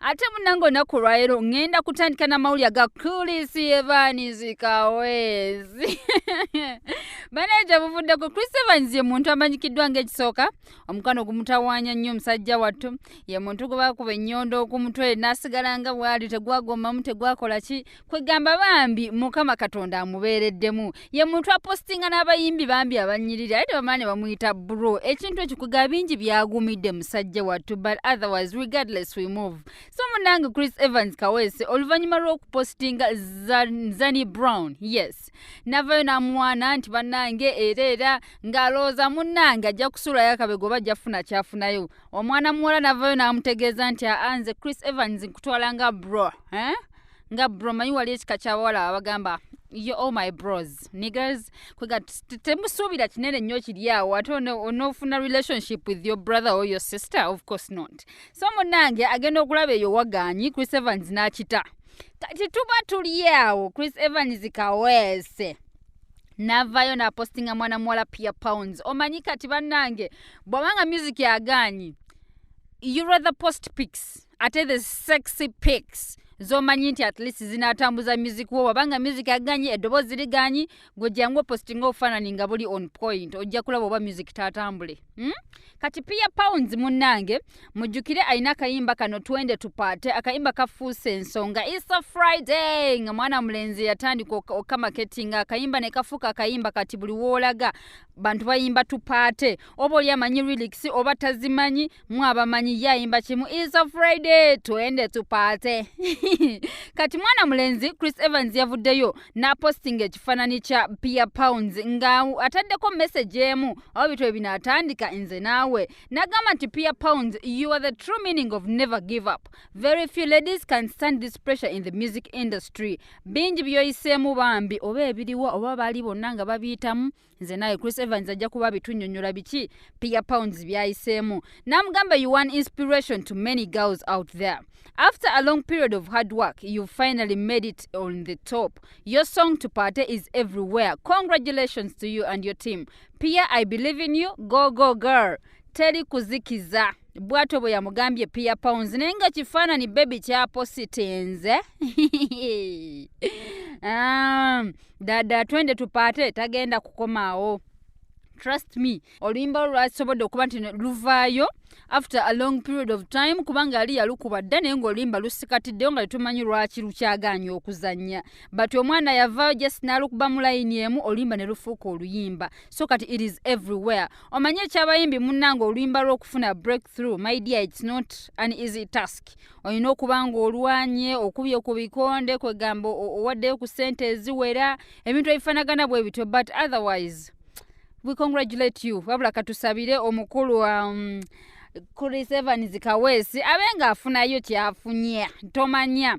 ate munange olunaku olwaleero ŋŋenda kutandika n'amawulire aga chris evans kaweezi banaye gye buvuddeko chris evans ye muntu amanyikiddwa ng'ekisooka omukwano ogumutawaanya nnyo omusajja wattu ye muntu gwe bakuba ennyondo ku mutwe n'asigala nga bw'ali tegwagomamu tegwakola ki kwegamba bambi mukama katonda amubeereddemu ye muntu apostinga n'abayimbi bambi abanyirira aye tebamala ne bamuyita bro ekintu ekyo kwegaba bingi byagumidde musajja wattu but otherwise regardless we move so munange chris evans kaweese oluvannyuma lw'okupostinga zani brown yes navayo n'amwana nti bannange era era ng'alowooza munnange ajja kusuulayo akabego oba ajja kufuna kyafunayo omwana muwala navayo n'amutegeeza nti aanze chris evans nkutwala nga bro eh? nga bro manyi wali ekika kyabawala abagamba yo all my bros niggers kwega temusuubira kinene nnyo kiri awo ate onoofuna relationship with your brother or your sister of course not so munange agenda okulaba eyo wagaanyi chris evans n'akita kati tuba tuli awo chris evans kaweese navayo napostinga mwana muwala pia pounds omanyi kati bannange bwabanga music agaanyi you rather post pics ate the sexy pics zomanyi nti at least zinatambuza music wo wabanga music aganyi eddoboozi liganyi gwe jangu opostinga obufaanani nga buli on point ojja kulaba oba music tatambule hmm? kati pia pounds munnange mujjukire alina akayimba kano twende tupaate akayimba kafuuse ensonga isa friday nga mwana mulenzi yatandika okamaketi nga akayimba ne kafuuka akayimba kati buli woolaga bantu bayimba tupaate oba oli amanyi relix oba tazimanyi mwabamanyi yayimba kimu is a friday twende tupaate kati mwana mulenzi chris evans yavuddeyo n'apostinga ekifaananyi kya pia pounds nga ataddeko message emu awo bitwa ebinaatandika nze naawe n'agamba nti pia pounds you are the true meaning of never give up very few ladies can stand this pressure in the music industry bingi byoyiseemu bambi oba ebiriwa oba baali bonna nga babiyitamu nze naye chris evans ajja kuba bitunyonyola biki pia pounds byayiseemu namugamba you one inspiration to many girls out there after a long period of hard work you finally made it on the top your song to party is everywhere congratulations to you and your team pia i believe in you go go girl teri kuzikiza bwato bwe yamugambye pia pounds naye nga kifaanani bebi kyapositenze um, dada twende tupaate tagenda kukomaawo trust me oluyimba lwasobodde okuba nti luvaayo after a long period of time kubanga yali yalukuba dda naye ngaoluyimba lusikatiddeyo nga tetumanyi lwaki lukyagaanya okuzannya but omwana yavaayo just nalukuba mu layini emu oluyimba ne lufuuka oluyimba so kati it is everywhere omanye ekyabayimbi munnanga oluyimba lwokufuna breakthrough my dear its not an easy task olina okuba ng'olwanye okubye ku bikonde kwegamba owaddeyo ku sente eziwera ebintu ebifanagana bwe bityo but otherwise we congratulate you wabula katusabire omukulu um, chris evans kaweesi abe ng'afunayo kyafunya tomanya